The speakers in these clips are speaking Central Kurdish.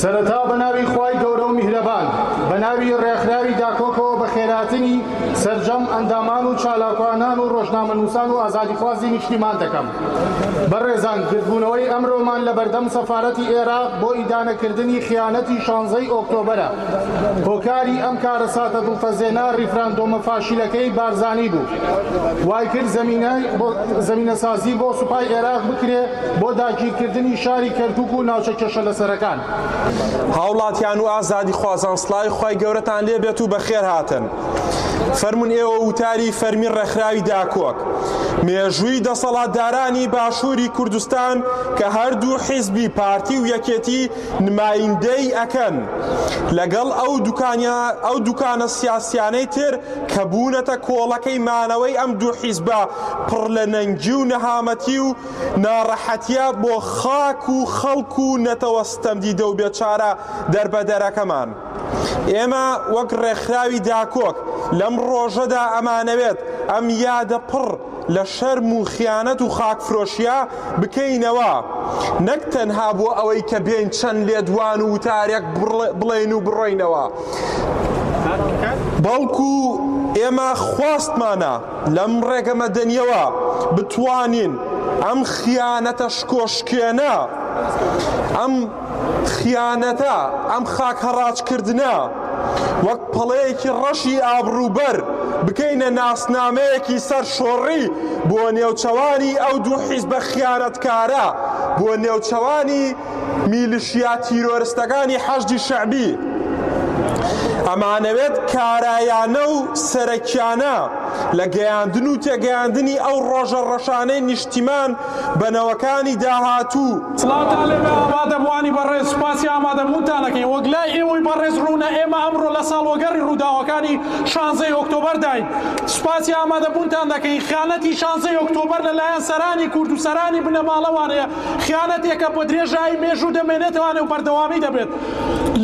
سەرەتا بەناوی خوای گەورە و میهرەبان بەناوی ڕێکخراوی داکۆکەوە بە خێراتنی سەرجەم ئەندامان و چالاکوانان و ڕۆژنامەنووسان و ئازادیخوازی نیشتیمان دەکەم بەڕێزان گردبوونەوەی ئەمرۆمان لە بەردەم سەفارەتی ئێراق بۆ ئیدانەکردنی خیانەتی شانزەی ئۆکتۆبەرە هۆکاری ئەم کارەساتە دڵتەزێنە ڕیفراندۆمە فاشیلەکەی بارزانی بوو. وایکرد زەمینەسازی بۆ سوپای ئێراق بکرێ بۆ داگیرکردنی شاری کەرکوک و ناوچە کێشە لەسەرەکان. هاوڵاتیان و ئازادیخوازان سڵاوی خوای گەورەتان لێ بێت و بەخێر هاتن. فەرموون ئێوە وتاری فەرمی ڕێکخراوی داکۆک مێژووی دەسەڵاتدارانی باشووری کوردستان کە هەردوو حیزبی پارتی و یەکێتی نمایندەی ئەکەن لەگەڵ ئەو دوکانە سیاسیانەی تر کە بوونەتە کۆڵەکەی مانەوەی ئەم دوو حیزبە پڕ لە نەنگی و نەهامەتی و ناڕەحەتیە بۆ خاک و خەڵک و نەتەوە ستەمدیدە و بێچارە دەربەدەرەکەمان. ئێمە وەک ڕێکخراوی داکۆک لەم ڕۆژەدا ئەمانەوێت ئەم یادە پڕ لە شەرم و خیانەت و خاکفرۆشیا بکەینەوە، نەک تەنها بۆ ئەوەی کە بێین چەند لێدوان و وتارێک بڵێین و بڕۆینەوە، بەڵکو ئێمە خواستمانە لەم ڕێگە مەدەنییەوە بتوانین ئەم خیانەتە شکۆشکێنە، ئەم. خیانەتە، ئەم خاک هەڕاج کردنە وەک پەڵەیەکی ڕەشی ئابڕوو بەر بکەینە ناسنامەیەکی سەر شۆڕی بۆ نێوچەوانی ئەو دوو حیزبە خیانەت کارە بۆ نێوچەوانی میلشیا تیرۆرستەکانی حەشدی شەعبی ئەمانەوێت کارایانە و سەرەکیانە لە گەیاندن و تێگەیاندنی ئەو ڕۆژە ڕەشانەی نیشتیمان بە نەوەکانی داهاتوو. سڵاوتان لێبێ ئامادەبووانی بەڕێز، سوپاسی ئامادەبوونتان ئەکەین، وەک لای ئێوەی بەڕێز ڕوونە ئێمە ئەمڕۆ لە ساڵوەگەڕی ڕووداوەکانی شانزەی ئۆکتۆبەرداین، سوپاسی ئامادەبوونتان دەکەین، خیانەتی شانزەی ئۆکتۆبەر لە لایەن سەرانی کورد و سەرانی بنەماڵەوانەیە، خیانەتێکە بە درێژایی مێژوو دەمێنێتەوانێ و بەردەوامی دەبێت،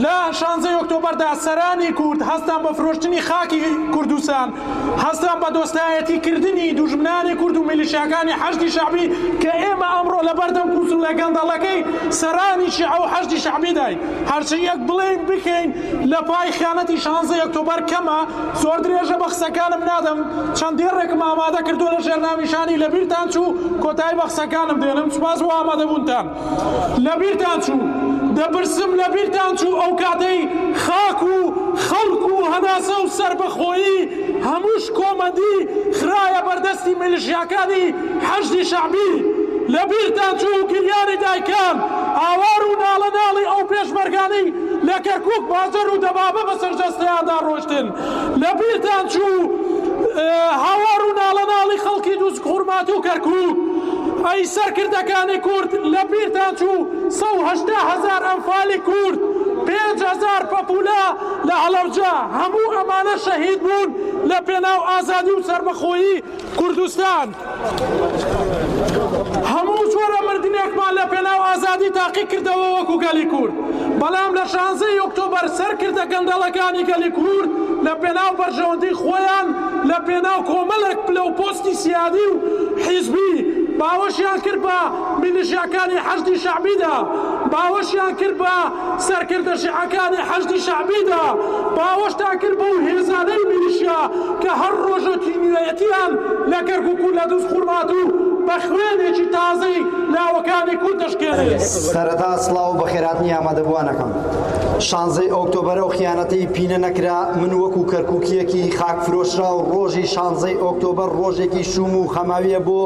لە شانزەی ئۆکتۆبەردا سەرانی کورد هەستان بە فرۆشتنی خاکی کوردستان، هەستیان بە دۆستایەتی کردنی دوژمنانی کورد و میلیشیاکانی حەشدی شەعبی کە ئێمە ئەمڕۆ لە بەردەم کوسوولە گەندەڵەکەی سەرانی شیعە و حەشدی شەعبیداین هەرچی یەک بڵێین بکەین لە پای خیانەتی شانزەی ئۆکتۆبەر کەمە زۆر درێژە بە قسەکانم نادەم چەند دێڕێکم ئامادە کردووە لە ژێر ناونیشانی لەبیرتان چوو کۆتایی بە قسەکانم دێنم سوپاس بۆ ئامادەبوونتان. لەبیرتان چوو دەپرسم لەبیرتان چوو ئەو کاتەی خاک و خەڵک و هەناسە و سەربەخۆیی هەمووش کۆمەندی خرایە بەردەستی میلیشیاکانی حەشدی شەعبی لەبیرتان چوو گریانی دایکان ئاوار و ناڵە ناڵی ئەو پێشمەرگانەی لە کەرکوک باجەر و دەبابە بەسەر جەستەیاندا ڕۆشتن لەبیرتان چوو هاوار و ناڵەناڵی خەڵکی دووز خورمات و کەرکووک ئەی سەرکردەکانی کورد لەبیرتان چوو سەد و هەشتا هەزار ئەنفالی کورد پێنج هەزار پەپوولە لە هەڵەبجە هەموو ئەمانە شەهید بوون لە پێناو ئازادی و سەربەخۆیی کوردستان هەموو جۆرە مردنێکمان لە پێناو ئازادی تاقی کردەوە وەکو گەلی کورد، بەڵام لە شانزەی ئۆکتۆبەر سەرکردە گەندەڵەکانی گەلی کورد لە پێناو بەرژەوەندی خۆیان لە پێناو کۆمەلێک پلە و پۆستی سیادی و حیزبی باوەشیان کرد بە میلیشیاکانی حەشدی شەعبیدا باوەشیان کرد بە سەرکردە شیعەکانی حەشدی شەعبیدا باوەشتان کرد بەو هێزانەی میلیشیا کە هەر ڕۆژەکی نوێیەتیان لە کەرکوک و لە دوز خورمات و بە خوێنێکی تازەی لاوەکانی کورد دەشکێنێ. سەرەتا سڵاو و بەخێرهاتنی ئامادەبووانەکەم. شانزەی ئۆکتۆبەر ئەو خیانەتەی پینە نەکرا، من وەکو کەرکوکییەکی خاکفرۆشراو ڕۆژی شانزەی ئۆکتۆبەر ڕۆژێکی شووم و خەماوییە بۆ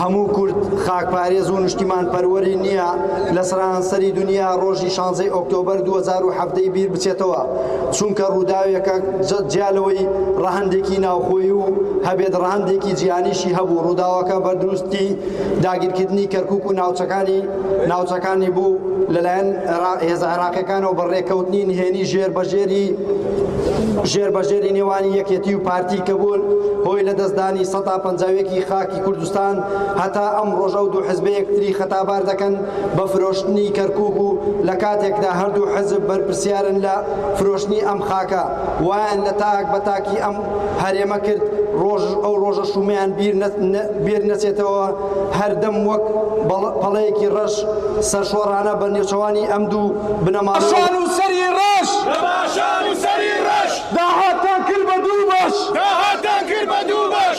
هەموو کورد خاکپارێز و نشتیمانپەروەری نییە، لە سەرانسەری دونیا ڕۆژی شانزەی ئۆکتۆبەر دوو هەزار و حەڤدە ی بیر بچێتەوە چونکە ڕووداوێکە جیا لەوەی ڕەهەندێکی ناوخۆی و هەبێت ڕەهەندێکی جیهانیشی هەبوو ڕووداوەکە بە دروستی داگیرکردنی کەرکک و ناوچەکانی ناوچەکانی بوو لەلایەن هێزە عێراقیەکانەوە بە ڕێکەوتنی نهێنی ژێر بەژێری ژێر بەژێری نێوانی یەکێتی و پارتی کە بوون هۆی لە دەستدانی سەدا پەنجاوێکی خاکی کوردستان هەتا ئەمڕۆش ئەو دوو حزبە یەکتری خەتابار دەکەن بە فرۆشتنی کەرکوک و لە کاتێکدا هەردوو حزب بەرپرسیارن لە فرۆشتنی ئەم خاکە وایان لە تاک بە تاکی ئەم هەرێمە کرد ڕۆژ ئەو ڕۆژە شومەیان بیر نەچێتەوە هەردەم وەک پەڵەیەکی ڕەش سەرشۆڕانە بە نێوچەوانی ئەم دوو بنەما سەری ڕەش داهاتان کرد بە دوو بەش داهاتان کرد بە دوو بەش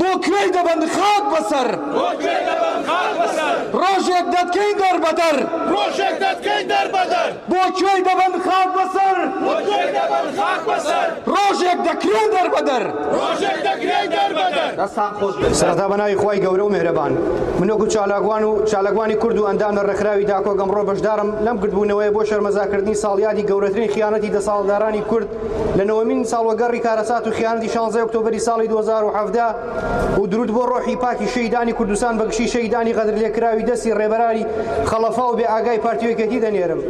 بۆ کوێی دەبەن خاک بەسەر. بۆ کوێی دەبەن خاک بەسەر. ڕۆژێک دەتکەین دەربەدەر. ڕۆژێک دەتکەین دەربەدەر. بۆ کوێی دەبەن خاک بەسەر. بۆ کوێی دەبەن خاک بەسەر. ڕۆژێک دەکرێین دەربەدەر. ڕۆژێک دەکرێین دەربەدەر. سەرەتا بە ناوی خوای گەورە و میهرەبان. من وەکو چالاکوان و چالاکوانی کورد و ئەندام لە ڕێکخراوی داکۆک ئەمڕۆ بەشدارم لەم گردبوونەوەیە بۆ شەرمەزاکردنی ساڵیادی گەورەترین خیانەتی دەسەاڵتدارانی کورد لە نۆەمین ساڵوەگەڕی کارەسات و خیانەتی شانزەی ئۆکتۆبەری ساڵی دوو هەزار و حەڤدە و درود بۆ ڕۆحی پاکی شەهیدانی کوردستان بە گشتی شەهیدانی غەدرلێکراوی دەستی ڕێبەرانی خەڵەفا و بێئاگای پارتی و یەکێتی دەنێرم.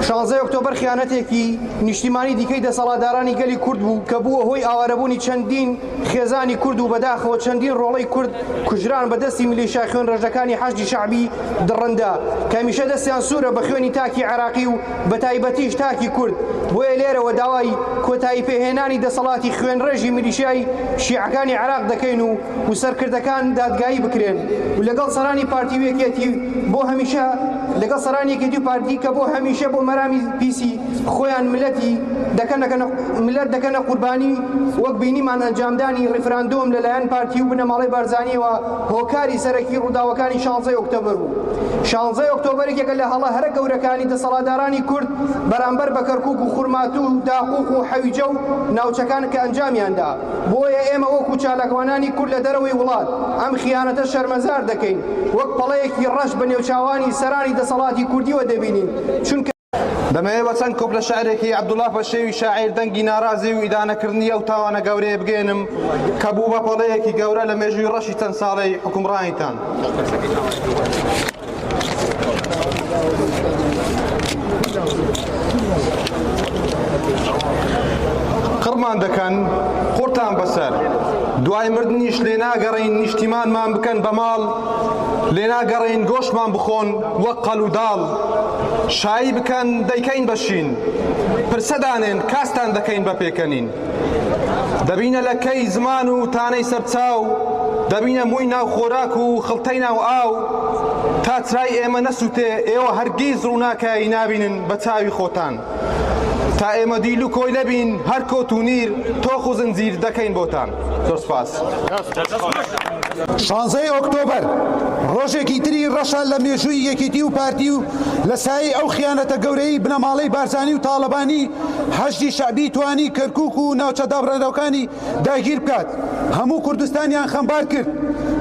شانزەی ئۆکتۆبەر خیانەتێکی نیشتیمانی دیکەی دەسەڵاتدارانی گەلی کورد بوو کە بووە هۆی ئاوارەبوونی چەندین خێزانی کورد و بەداخەوە چەندین ڕۆڵەی کورد کوژران بە دەستی میلیشیا خوێنڕێژەکانی حەشدی شەعبی دڕندە کە هەمیشە دەستیان سوورە بە خوێنی تاکی عێراقی و بەتایبەتیش تاکی کورد، بۆیە لێرەوە داوای کۆتایی پێهێنانی دەسەڵاتی خوێنڕێژی میلیشیای شیعەکانی عێراق دەکەین و و سەرکردەکان دادگایی بکرێن و لەگەڵ سەرانی پارتی و یەکێتی بۆ هەمیشە لەگەڵ سەرانی یەکێتی و پارتی کە بۆ هەمیشە بۆ مەرامی پیسی خۆیان ملەتی دەکەنە ملەت دەکەنە قوربانی وەک بینیمان ئەنجامدانی ڕیفراندۆم لەلایەن پارتی و بنەماڵەی بارزانیەوە هۆکاری سەرەکی ڕووداوەکانی شانزەی ئۆکتۆبەر بوو. شانزەی ئۆکتۆبەر یەکێکە لە هەڵە هەرە گەورەکانی دەسەڵاتدارانی کورد بەرامبەر بە کەرکووک و خورماتوو و داقووق و حەویجە و ناوچەکان کە ئەنجامیان دا. بۆیە ئێمە وەکوو چالاکوانانی کورد لە دەرەوەی وڵات ئەم خیانەتە شەرمەزار دەکەین. وەک پەڵەیەکی ڕەش بە نێوچاوانی سەرانی دەسەڵاتی کوردییەوە دەبینین، چونکە. دەمەوێت چەند کۆپلە شعرێکی عەبدوڵڵا پەشێوی شاعیر دەنگی ناڕازی و ئیدانەکردنی ئەو تاوانە گەورەیە بگەیەنم کە بوو بە پەڵەیەکی گەورە لە مێژووی ڕەشی چەند ساڵەی حکومڕانیتان. قڕمان دەکەن قڕتان بەسەر دوای مردنیش لێناگەڕین نیشتیمانمان بکەن بە ماڵ لێناگەڕین گۆشمان بخۆن وەک قەل و داڵ شایی بکەن دەیکەین بە شین. پرسە دانێن کاستان دەکەین بە پێکەنین. دەبینە لە کەی زمان و تانەی سەر چاو، دەبینە مووی ناو خۆراک و خڵتەی ناو ئاو. تا چرای ئێمە نەسووتێ ئێوە هەرگیز ڕووناکایی نابینن بە چاوی خۆتان. تا ئێمە دیل و کۆیلە بین هەر کۆت و نیر تۆخ و زنجیر دەکەین بۆتان زۆر سوپاس. شانزەی ئۆکتۆبەر ڕۆژێکی تری ڕەشە لە مێژووی یەکێتی و پارتی و لە سایەی ئەو خیانەتە گەورەی بنەماڵەی بارزانی و تاڵەبانی حەشدی شەعبی توانی کەرکوک و ناوچە دابڕێنەوەکانی داگیر بکات هەموو کوردستانیان خەمبار کرد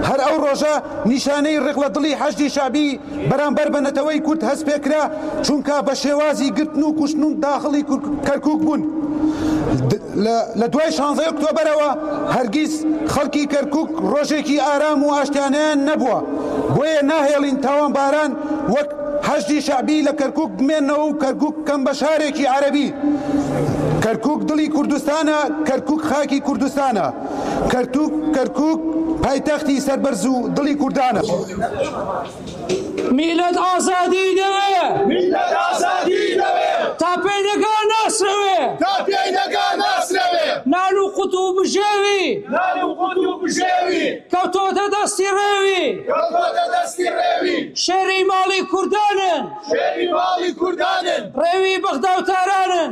هەر ئەو ڕۆژە نیشانەی ڕق لە دڵی حەشدی شەعبی بەرامبەر بە نەتەوەی کورد هەست پێکرا چونکا بە شێوازی گرتن و کوشتن و داخڵی کەرکوک بوون لە دوای شانزەی ئۆکتۆبەرەوە هەرگیز خەڵکی کەرکوک ڕۆژێکی ئارام و ئاشتیانەیان نەبووە بۆیە ناهێڵین تاوانباران وەک حەشدی شەعبی لە کەرکوک بمێنەوە و کەرکوک بکەن بە شارێکی عەرەبی کەرکوک دڵی کوردستانە کەرکوک خاکی کوردستانە کەرتوک کەرکوک پایتەختی سەربەرز و دڵی کوردانە میلەت ئازادی دەوێ میلەت ئازادی دەوێ تا پێی دەگا ناسرەوێ تا پێی دەگا ناسرەوێ نان و قوت و بژێوی نان و قوت و بژێوی کەوتۆتە دەستی ڕێوی کەوتۆتە دەستی ڕێوی شێری ماڵی کوردانن شێری ماڵی کوردانن ڕێوی بەغدا و تارانن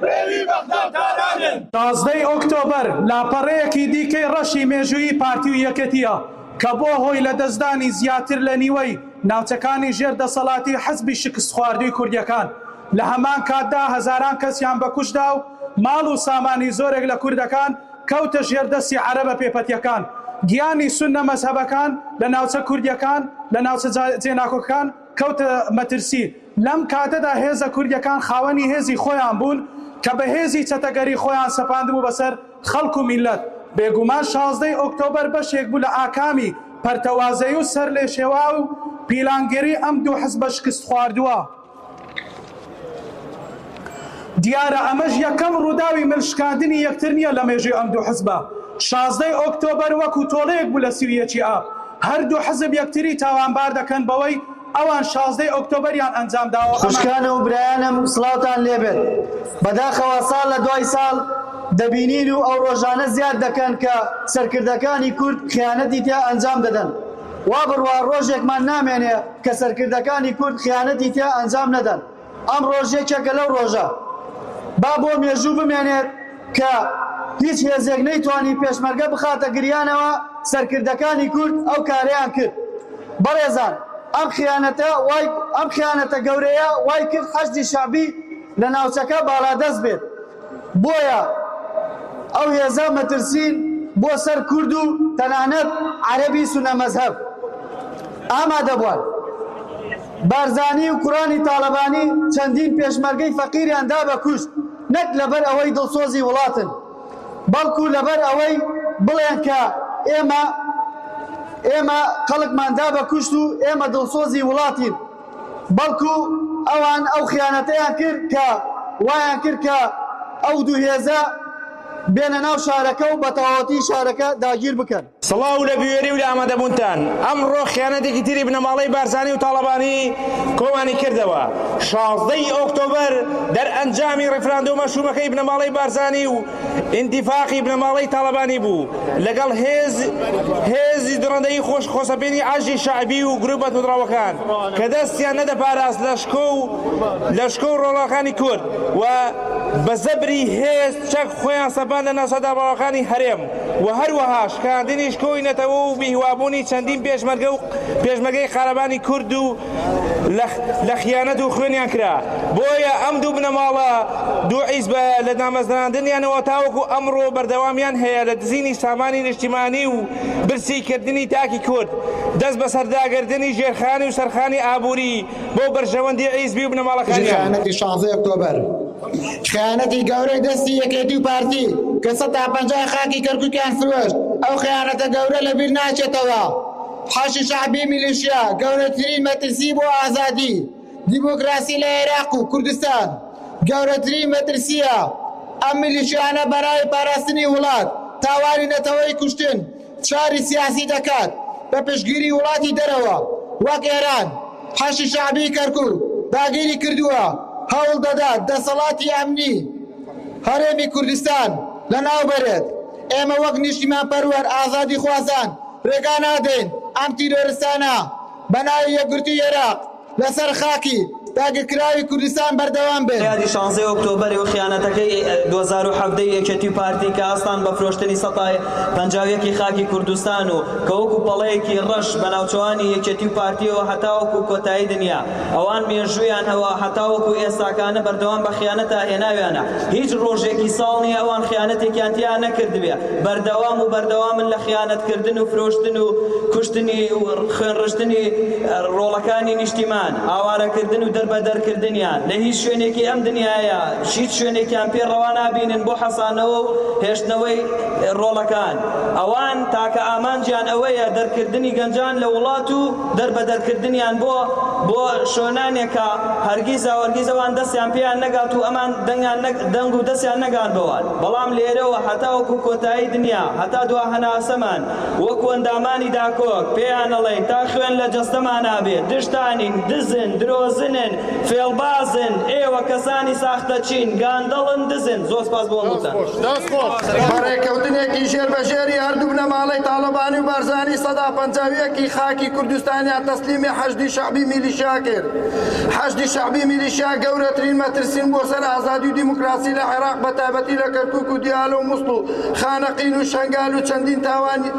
ڕێوی بەغدا و تارانن. پازدە ی ئۆکتۆبەر لاپەڕەیەکی دیکەی ڕەشی مێژوویی پارتی و یەکێتییە کە بووە هۆی لەدەستدانی زیاتر لە نیوەی ناوچەکانی ژێر دەسەڵاتی حزبی شکستخواردووی کوردەکان، لە هەمان کاتدا هەزاران کەسیان بەکوشتدا و ماڵ و سامانی زۆرێک لە کوردەکان کەوتە ژێر دەستی عەرەبە پێپەتییەکان، گیانی سوننە مەزهەبەکان لە ناوچە کوردییەکان لە ناوچە جێناکۆکەکان کەوتە مەترسی. لەم کاتەدا هێزە کوردیەکان خاوەنی هێزی خۆیان بوون کە بە هێزی چەتەگەری خۆیان سەپاندبوو بەسەر خەڵک و میللەت. بێگومان شازدەی ئۆکتۆبەر بەشێک بوو لە ئاکامی پەرتەوازەیی و سەرلێشێواو و پیلانگێری ئەم دوو حزبە شکستخواردووە. دیارە ئەمەش یەکەم ڕووداوی مل شکاندنی یەکتر نییە لە مێژووی ئەم دوو حزبە، شازدەی ئۆکتۆبەر وەکو تۆڵەیەک بوو لە سی و یەکی ئاب، هەردوو حزب یەکتری تاوانبار دەکەن بەوەی ئەوان شازدەی ئۆکتۆبەریان ئەنجام داوە و ئەمان. خوشکان و برایانم سڵاوتان لێ بێت، بەداخەوە ساڵ لە دوای ساڵ دەبینین و ئەو ڕۆژانە زیاد دەکەن کە سەرکردەکانی کورد خیانەتی تیا ئەنجام دەدەن، وا بڕوا ڕۆژێکمان نامێنێ کە سەرکردەکانی کورد خیانەتی تیا ئەنجام نەدەن، ئەمڕۆش یەکێکە لەو ڕۆژە. با بۆ مێژوو بمێنێت کە هیچ هێزێک نەیتوانی پێشمەرگە بخاتە گریانەوە، سەرکردەکانی کورد ئەو کارەیان کرد. بەڕێزان ئەم خیانەتە وای ئەم خیانەتە گەورەیە وای کرد حەشدی شەعبی لە ناوچەکە باڵادەست بێت. بۆیە ئەو هێزە مەترسین بۆ سەر کورد و تەنانەت عەرەبی سونە مەزهەب ئامادەبوان. بارزانی و کوڕانی تاڵەبانی چەندین پێشمەرگەی فەقیریان دا بە کوشت نەک لەبەر ئەوەی دڵسۆزی وڵاتن بەڵکو لەبەر ئەوەی بڵێن کە ئێمە ئێمە خەڵکمان دا بە کوشت و ئێمە دڵسۆزی وڵاتین. بەڵکو ئەوان ئەو خیانەتەیان کرد کە وایان کرد کە ئەو دوو هێزە بێنە ناو شارەکە و بەتەواوەتی شارەکە داگیر بکەن. سڵاو لە بوێری و لە ئامادەبوونتان. ئەمڕۆ خیانەتێکی تری بنەماڵەی بارزانی و تاڵەبانی کۆمانی کردەوە. شازدە ی ئۆکتۆبەر دەرئەنجامی ڕیفراندۆمە شوومەکەی بنەماڵەی بارزانی و ئینتیفاقی بنەماڵەی تاڵەبانی بوو لەگەڵ هێز هێزی دڕندەیی خۆش خۆسەپێنی عەرزی شەعبی و گروپە توندڕەوەکان کە دەستیان نەدەپاراست لە شکۆ و لە شکۆ و ڕۆڵەکانی کورد و بە زەبری هێز چەک خۆیان سەپان لە ناسە دابڕاوەکانی هەرێم و هەروەها شکاندنی شکۆی نەتەوە و بیهوابوونی چەندین پێشمەرگە و پێشمەرگەی قارەمانی کورد و لە خیانەت و خوێنیان کرا بۆیە ئەم دوو بنەماڵە دوو عیزبە لە دامەزراندنیانەوە تاوەکو ئەمڕۆ بەردەوامیان هەیە لە دزینی سامانی نیشتیمانی و برسی کردنی تاکی کورد دەست بەسەرداگردنی ژێرخانی و سەرخانی ئابووری بۆ بەرژەوەندی عیزبی و بنەماڵەکانیان. خیانەتی گەورەی دەستی یەکێتی و پارتی کە سەتا پەنجا خاکی کەرکوکیان فرۆشت ئەو خیانەتە گەورە لەبیر ناچێتەوە. حەشدی شەعبی میلیشیا گەورەترین مەترسی بۆ ئازادی دیموکراسی لە عێراق و کوردستان گەورەترین مەترسییە، ئەم میلیشیانە بەناوی پاراستنی وڵات تاوانی نەتەوەیی کوشتن فشاری سیاسی دەکات بە پشتگیری وڵاتی دەرەوە وەک ئێران، حەشدی شەعبی کەرکوک داگیری کردووە، هەوڵ دەدات دەسەڵاتی ئەمنی هەرێمی کوردستان لەناو بەرێت، ئێمە وەک نیشتیمانپەروەر ئازادیخوازان ڕێگا نادەین ئەم تیرۆرستانە بە ناوی یەکگرتووی عێراق لە سەر خاکی داگیرکراوی کوردستان بەردەوام بێن. یادی شانزەی ئۆکتۆبەری و خیانەتەکەی دوو هەزار و حەڤدە ی یەکێتی و پارتی کە هەستان بە فرۆشتنی سەتا پەنجا و یەک ی خاکی کوردستان و کە وەکو پەڵەیەکی ڕەش بە ناوچەوانی یەکێتی و پارتیەوە هەتاوەکو کۆتایی دنیا ئەوان مێژوویان هەوە هەتاوەکو ئێستاکانە بەردەوام بە خیانەتا هێناویانە هیچ ڕۆژێکی ساڵ نییە ئەوان خیانەتێکیان تیا نەکردبێ بەردەوام و بەردەوامن لە خیانەتکردن و فرۆشتن و کوشتنی و خوێنڕشتنی ڕۆڵەکانی نیشتیمان ئاوارەکردن و دەربەدەرکردنیان لە هیچ شوێنێکی ئەم دنیاە هیچ شوێنێکیان پێ ڕەوا نابینن بۆ حەسانەوە و هێشتنەوەی ڕۆڵەکان ئەوان تاکە ئامانجیان ئەوەیە دەرکردنی گەنجان لە وڵات و دەربەدەرکردنیان بۆ بۆ شۆنانێک کە هەرگیزا وەرگیز ئەوان دەستیان پێیان نەگات و ئەمان دەنگیان نەگ دەنگ و دەستیان نەگات بەوان بەڵام لێرەوە هەتاوەکو کۆتایی دنیا هەتا دوا هەناسەمان وەکو ئەندامانی داکۆک پێیان ئەڵێین تا خوێن لە جەستەمانا بێت دژتانین دزن درۆزنن فێڵبازن ئێوە کەسانی ساختەچین گاندەڵن دزن زۆر سپاس بۆ هەمووتان. بە ڕێککەوتنێکی ژێربەژێری هەردوو بنەماڵەی تاڵەبانی و بارزانی سەدا پەنجا و یەکی خاکی کوردستانیان تەسلیمی حەشدی شەعبی میلیشیا کرد. حەشدی شەعبی میلیشیا گەورەترین مەترسین بۆ سەر ئازادی و دیموکراسی لە عێراق بە تایبەتی لە کەرکووک و دیالە و موسڵ و خانەقین و شەنگال و چەندین تاوانی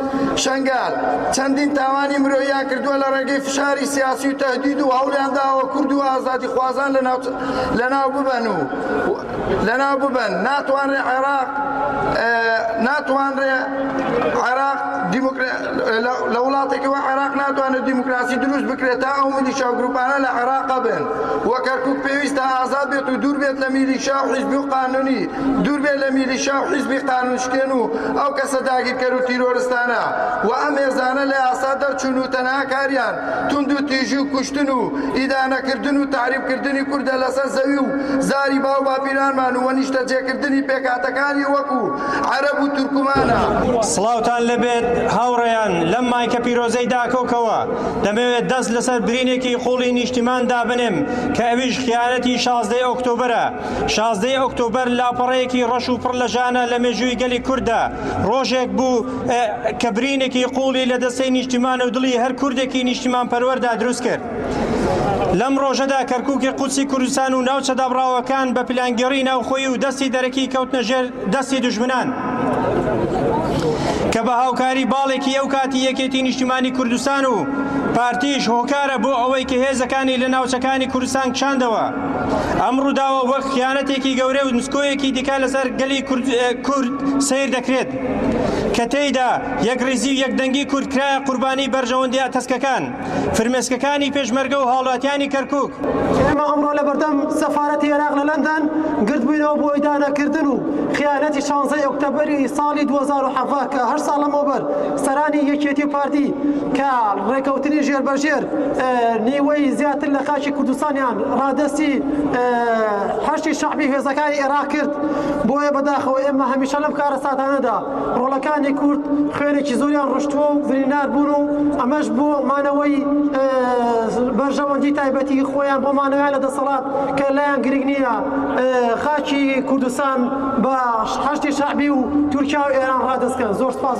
شەنگال چەندین تاوانی مرۆییان کردووە لە ڕێگەی فشاری سیاسی و تەهدید و هەوڵیان داوە کورد و ئازادیخوازان لەناو لەناو ببەن و لەناو ببەن ناتوانرێت عێراق ناتوانرێت عێراق لە وڵاتێکی وە عێراق ناتوانێت دیموکراسی دروست بکرێت تا ئەو میلیشا و گروپانە لە عێراق بن و کەرکک پێویستە ئازاد بێت و دوور بێت لە میلیشا و حیزبی و قانونی دوور بێت لە میلیشا و حیزبی قانونشکێن و ئەو کەسە داگیرکەر و تیرۆرستانە و ئەم هێزانە لە یاسا دەرچوون و تەنها کاریان توندوتیژی و کوشتن و ئیدانەکردن و تەعریبکردنی کوردە لەسەر زەوی و زاری باو باپیرانمان و نیشتەجێکردنی پێکهاتەکانی وەکو عەرەب و تورکمانە. سڵاوتان لەبێت هاوڕێیان، لەم مایکە پیرۆزەی داکۆکەوە دەمەوێت دەست لەسەر برینێکی قوڵی نیشتیمان دابنێم کە ئەویش خیانەتی شازدەی ئۆکتۆبەرە. شازدەی ئۆکتۆبەر لاپەڕەیەکی ڕەش و پڕ لە ژانە لە مێژووی گەلی کورددا. ڕۆژێک بوو. کە برینێکی قوڵی لە دەستەی نیشتیمان و دڵی هەر کوردێکی نیشتیمان پەروەەردا دروست کرد. لەم ڕۆژەدا کەرکووکی قوچی کوردستان و ناوچە دابڕاوەکان بە پلانگەڕی ناوخۆی و دەستی دەرەکی کەوتنە ژێر دەستی دژمنان. کە بە هاوکاری باڵێکی ئەو کاتی یەکێتی نیشتیمانی کوردستان و پارتیش هۆکارە بۆ ئەوەی کە هێزەکانی لە ناوچەکانی کوردستان کشاندەوە ئەم ڕووداوە وەک خیانەتێکی گەورە و نسکۆیەکی دیکە لەسەر گەلی کورد سیر دەکرێت. کە تێیدا یەکڕیزی و یەکدەنگی کورد کرایە قوربانی بەرژەوەندی ئەتەسکەکان، فرمێسکەکانی پێشمەرگە و هاوڵاتیانی کەرکووک. ئێمە ئەمڕۆ لە بەردەم سەفارەتی ئێراق لە لەندەن گردبووینەوە بۆ ئیدانەکردن و خیانەتی شانزە ی ئۆکتەبەری ساڵی دوو هەزار و حەڤدە کە هەشت ساڵ لەمەوبەر سەرانی یەکێتی و پارتی کە ڕێکەوتنی ژێربەژێر نیوەی زیاتر لە خاکی کوردستانیان ڕادەستی حەشدی شەعبی هێزەکانی ئێراق کرد. بۆیە بەداخەوە ئێمە هەمیشە لەم کارەساتانەدا ڕۆڵەکانی کورد خوێنێکی زۆریان ڕشتووە و بریندار بوون و ئەمەش بۆ مانەوەی بەرژەوەندی تایبەتی خۆیان بۆ مانەوەیان لە دەسەڵات کە لایان گرنگ نییە خاکی کوردستان بە حەشتی شەعبی و تورکیا و ئێران ڕادەستکەن زۆر سپاس